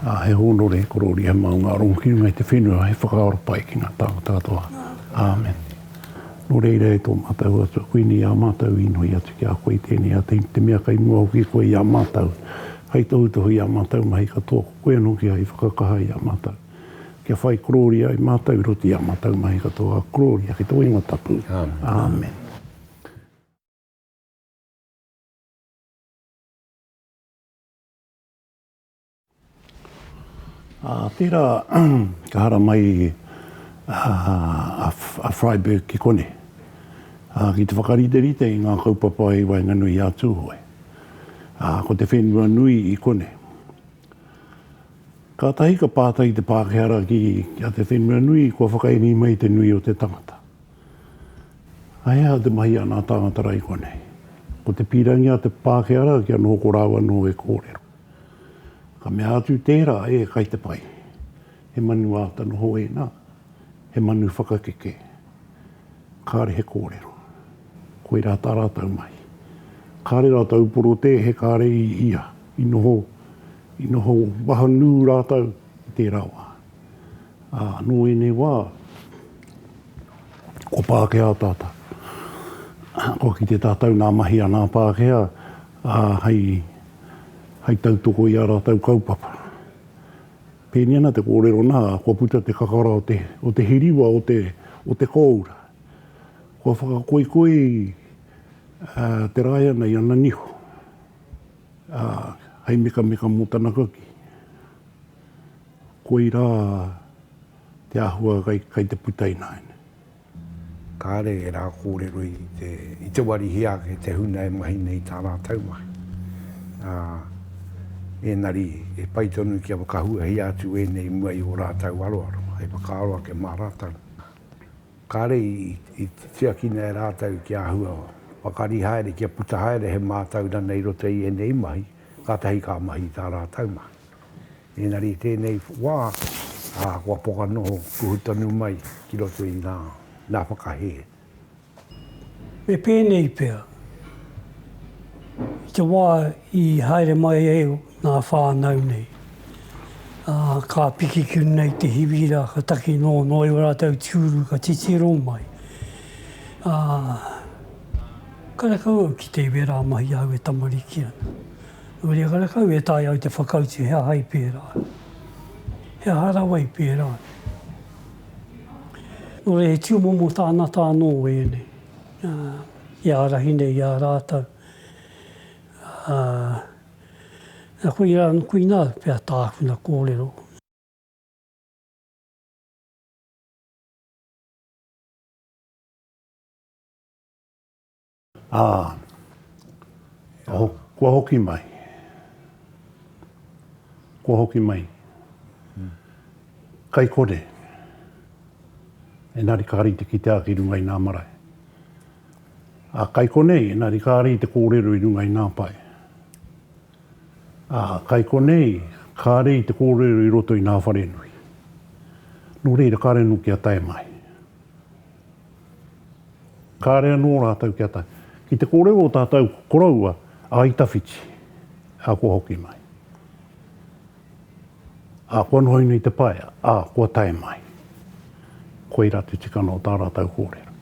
Ā, he hōnore, he korōria, he maunga rongo ki runga i te whenua, he whakaaro pai ki ngā tāngata katoa. Āmen. Nō reira e tō mātou Atua, koinei ā mātou inoi atu ki a koe i tēnei ata, i te mea kei mua hoki i koe i a mātou, hei tohutohu i ā mātou mahi katoa, ko koe anō kia i whakakaha i a mātou, kia whai korōria ai mātou i roto i ā mātou mahi katoa, ā, korōria ki tō ingoa tapu. Āmen. Ā, tērā ka haramai i a Freiberg ki konei, ā, ki te whakariterite i ngā kaupapa i waenganui i a Tūhoe, ā, ko te whenua nui i konei. Kātahi ka pātai te Pākehā rā ki a te whenua nui kua whakaemi mai te nui o te tangata. He aha te mahi a nā tāngata raikua nei? Ko te pīrangi a te Pākehā rā kia noho ko rāua anō e kōrero. Ka mea atu tērā, e kai te pai. He manu āta noho ēnā, he manu whakakeke. Kāre he kōrero. Koirā tā rātou mahi. Kāre rātou porotē, he kāre i ia. I noho, i noho wahanū rātou i tērā wā. Ā, nō ēnei wā, ko Pākehā tātau. Kua kite tātau nā mahi a ngā Pākehā, ā, hei, hei tautoko i ā rātau kaupapa. Pēnei ana te kōrero nā, kua puta te kakara o te, o te hiriwa o te, o te kōura. Kua whakakoikoi te rāiana i ana niho, ā, hei mekameka mō tana kaki. Koirā te āhua kai te puta ināianei. Kāre ērā kōrero i te wari hē ake te huna e mahi nei i tā rātou mahi, ā, ēnari he pai tonu kia whakahuahia atu ēnei i mua i ō rātou aroaro hei whakaaro ake mā rātou. Kāre i tiakina e rātou kia āhua pakari haere, kia puta haere he mātauranga i roto i ēnei mahi, kātahi ka mahi i tā rātou mahi. Engari i tēnei wā, kua poka noho kuhu tonu mai ki roto i ngā whakahē. Me pēnei pea, i te wā i haere mai ai ngā whānau nei, ka piki ki runga i te hiwi rā, ka taki noa noa i ō rātou tūru ka titiro mai. Karekau au ki te iwi rā mahi āu e tamariki ana. Uria karekau e taea ai te whakautu he aha i pērā, he aha rawa i pērā. Nō reira he tūmomo tāngata anō ēnei i ārahi nei i a rātou. Nā koirā, koinā pea tākuna kōrero. Ā, kua hoki mai. Kua hoki mai. Kai kore. Engari kāre i te kitea ki runga i nā marae. Ā, kai konei, engari kāre i te kōrero i runga i nā pae. Ā, kai konei, kāre i te kōrero i roto i nā wharenui. Nō reira, kāre anō kia tae mai. Kāre anō rātou kia tae ki te kōrero o tātou koroua a Itawhiti, ā, kua hoki mai. Ā, kua noho ina i te pae, ā, kua tae mai. Koirā te tikanga o tā rātou kōrero.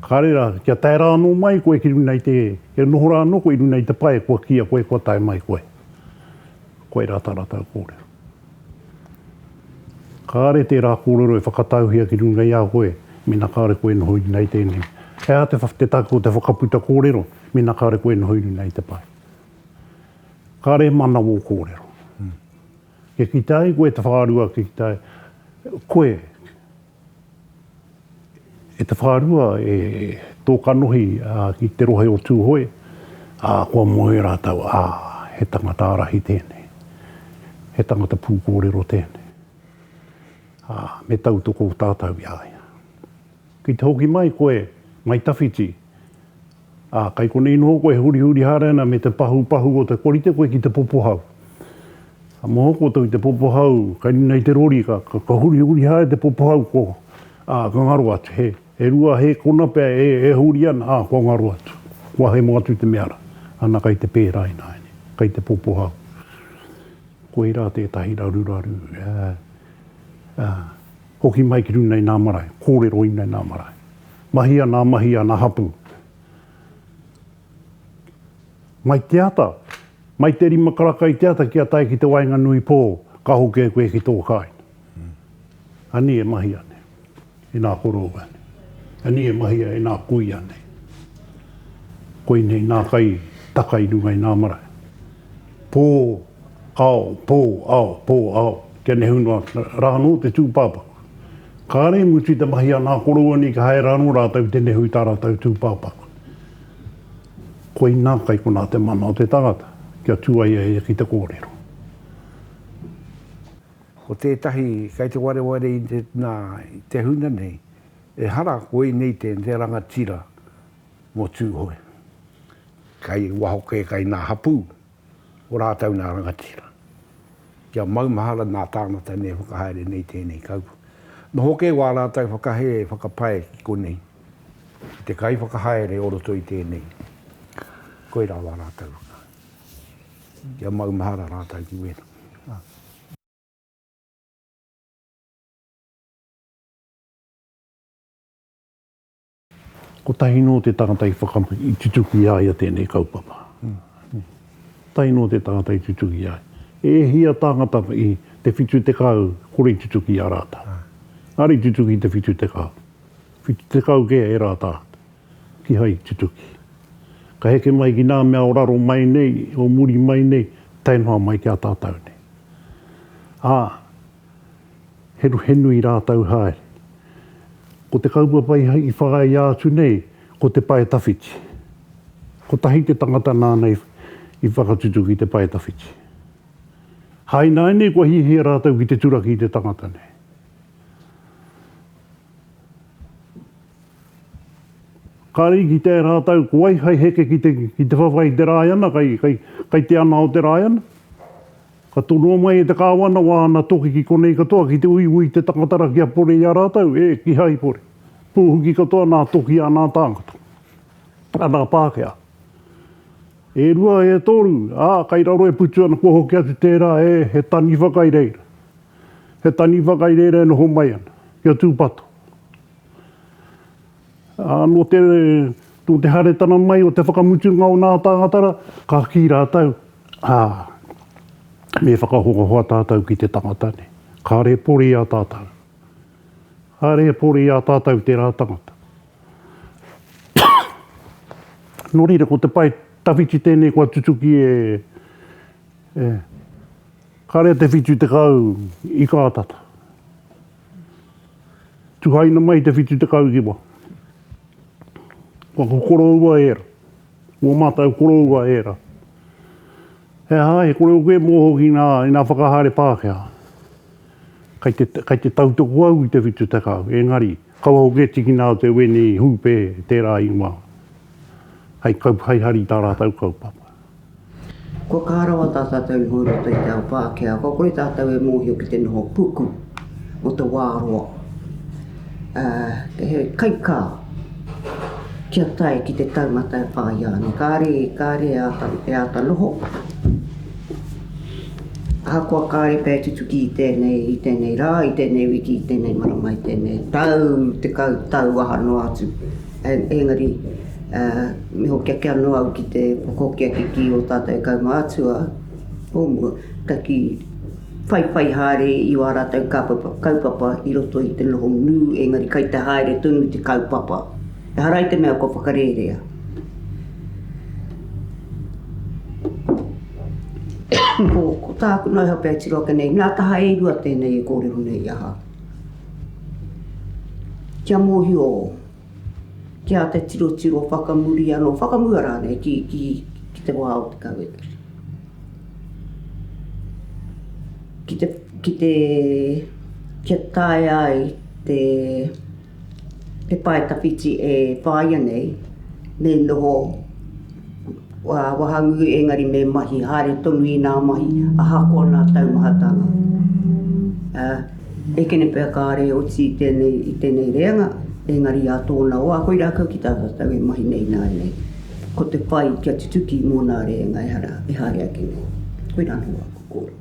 Kāre rā, kia tae rā anō mai koe ki runa i te, kia noho rā anō koe i runa i te pae, kua kīia koe kua tae mai koe. Koirā tā rātou kōrero. Kāre tērā kōrero e whakatauhia ki runga i a koe mēnā kāre koe e noho iri nei tēnei. He aha te take o te whakaputa kōrero mēnā kāre koe e noho iri nei te pae? Kāre e manawa ō kōrero. Kia kitea ai koe te whārua, kia kitea ai koe E te whārua, e tō kanohi ki te rohe o Tūhoe, ā, kua moe rātou, ā, he tangata ārahi tēnei, he tangata pūkōrero tēnei, ā, me tautoko tātou i a ia. Ki te hoki mai koe, Ngāi Tawhiti, Ā, kai konei noho koe e hurihuri haere ana me te pahupahu o te korite koe ki te popohau. Ka moho koutou i te popohau, kai runga i te rori, ka, ka, ka hurihuri haere te popohau, ko, ā, ka ngaro atu, he, he rua, he kona pea e, e huri ana, ā, kua ngaro atu. Kua hemo atu te mea rā. Ana kai te pērā ināiane, kai te popohau. Koirā tētahi raruraru, ā, ā, hoki mai ki runga i ngā marae, kōrero i runga i ngā marae. Mahi ana mahi ana hapu. Mai te ata, mai te rima karaka i te ata kia tae ki te waenganui po, ka hoke koe ki to kainga. Ani e mahia nei, e na koroua nei. Ani e mahia e na kuia nei. Koinei na kai taka i runga i na marae. Po, ao, po, ao, po, ao, kia nehu noa ra no te tupapaku. Kāre i mutu i te mahi a ngā koroua nei ka haere anō rātou ki te nehu i tā rātou tūpāpaku. Koinā kai konā te mana o te tangata kia tū ai a ia ki te kōrero. Ko tētahi kei te wareware i te, nā, i te huna nei, ehara koinei te rangatira mō Tūhoe. Kai waho kē, kai ngā hapū. o rātou nā rangatira. Kia maumahara nā tāngata nei e whakahaere nei tēnei kaupapa. Noho kē wā rātou whakahē e whakapae ki konei, ki te kaiwhakahaere o roto i tēnei. Koirā wā rātou. Kia maumahara rātou ki wēnā. Kotahi nō te tangata i whakapuaki, i tutuki i a ia tēnei kaupapa. Kotahi nō te tangata i tutuki i a ia. E hia tāngata i te whitu tekau kore i tutuki i a rātau. Engari i tutuki i te whitu tekau. Whitu tekau kē e rātau kihai i tutuki. Ka heke mai ki nā mea o raro mai nei, o muri mai nei, tae noa mai ki a tātau nei. Ā. Henuhenu i rātou haere. Ko te kaupapa i whāia atu nei, ko te pae tawhiti. Kotahi te tangata nāna i whakatutuki i te pae tawhiti. Hainainei kua hiahia rātou ki te turaki i te tangata nei. Kāre i kitea e rātou ko wai hai heke ki te whawhai i te Rāiana, kai te ana o te Rāiana. Ka tonoa mai e te Kāwana wāna toki ki konei katoa ki te uiui te takatara kia pore i a rātou, e, kihai pore. Pūhuki katoa nā toki anā tāngata, anā Pākehā. E rua, e toru, ā, kai raro e putu ana kua hoki atu tērā, e, he taniwha kai reira. He taniwha kai reira e noho mai ana, kia tūpato. Ā, nō te, nō te haeretanga mai o te whakamutunga o ngā tāngatara, ka kī rātou, Ā, me whakahoahoa tātou ki te tangata nei. Kāre e pori i a tātou. Kāre e pori i a tātou tērā tangata. nō reira, ko te pae tawhiti tēnei kua tutuki e, e, kare a te whitu tekau i kā tata. Tuhaina mai te whitu tekau ki wa. Wa ko koroua era. Wa matau koroua era. He aha, he kore oku e moho ki nga, i nga whakahare Pakea. Kai te, kai te tautoku au i te whitu tekau, engari, kaua hoki e tikina au te wene i Hupe tera ingoa. Hai kau, hai hari ta ratou kaupapa. Kua kaha rawa tā tātou i hou i roto i te ao Pākehā, kua kore tātou e mōhio ki te noho puku o te wā roa. He kaikā kia tae ki te taumata e whāia ana. Kāre, kāre e āta, e āta noho. Ahakoa kāre pēi tutuki i tēnei, i tēnei rā, i tēnei wiki, i tēnei marama, i tēnei tau, tekau tau aha noa atu. Engari, me hoki ake anō au ki te whakahokia ki kī o tātou e kaumātua o mua, ka kī, whaiwhai haere i wā rātou kaupapa i roto i te noho nū, engari kai te haere tonu te kaupapa. Ehara i te mea kua whakarērea. Ko tāku noho pea e tiro ake nei, nā taha e rua tēnei e kōrero nei i ahau. Kia mōhio ki a te tirotiro whakamuri anō, whakamua rānei ki, ki, ki te wā o te kawe. Ki te, ki te, kia taea ai te, He pae tawhiti e whāia nei, me noho wahangū engari me mahi haere tonu i nā mahi ahakoa nā taumahatanga. E kene pea kāre oti i tēnei, i tēnei reanga, engari i a tōna wā, koirā kau ki tā tātou e mahi nei ināianei. Ko te pai kia tutuki mō nā reanga ehara, e haere ake nei. Koirā anō wā, kōrero.